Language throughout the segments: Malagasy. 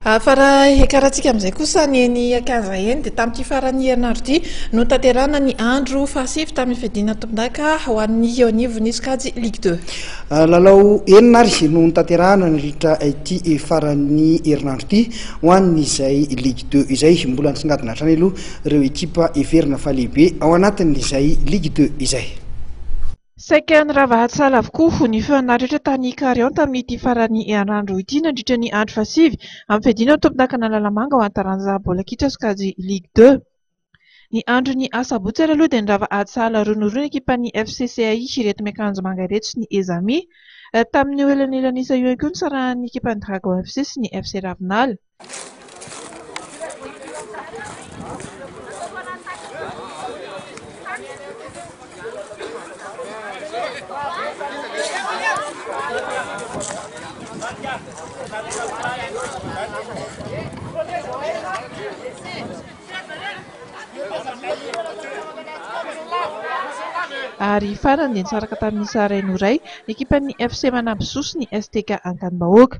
Fa raha hiakarantsika amin'izay kosa ny eny Akanza eny dia tamin'ity faran'ny herinandro ity no tanterahana ny andro fahasivy tamin'ny fiadiana tompondaka ho an'ny eo anivon'ny sokajy Ligue deux. Lalao enina ary no notanterahana nandritra ity faran'ny herinandro ity ho an'izay Ligue deux izay. Mbola nisongadina hatrany aloha ireo ekipa heverina fa lehibe ao anatin'izay Ligue deux izay. Saika nirava hatsala avokoa ny feo naretra tany Ikarion tamin'ity faran'ny herinandro ity nandritra ny andro fahasivy amin'ny fiadiana ho tompon'ankanan'ny Lalamanga ho an'ny taranja baolina kitra sokajy Ligue deux. Ny andron'ny asabotsy ary aloha dia nirava hatsala roa noho roa ny ekipan'ny FC CAI ireto miakanjo manga ireto sy ny Ezami. Tamin'io elanelan'isa io ihany koa no nisarahan'ny ekipan'ny Dragons FC sy ny FC Ravinala. Ary farany dia nisaraka tamin'ny Sahraino iray, ny ekipan'ny FC Manamby Soa sy ny STK Ankanim-bahoaka.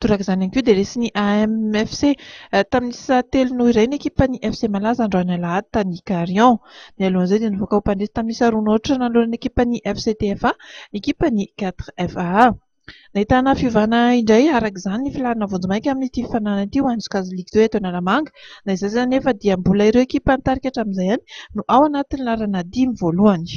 Toraka izany ihany koa dia resin'ny AMFC. Tamin'ny isa telo noho iray ny ekipan'ny FC Malaza androany alahady tany Carion. Mialohan'izay dia nivoaka ho mpandresy tamin'ny isa roa nohotritra nanoloana ny ekipan'ny FC TFA ny ekipan'ny 4FAA. Nahitana fiovana indray araka izany ny filarana vonjimaika amin'ity fifaninanana ity ho an'ny sokajy Ligue Two eto Analamanga. Na izany izany anefa dia mbola ireo ekipa nitarika hatramin'izay ihany no ao anatin'ny laharana dimy voalohany.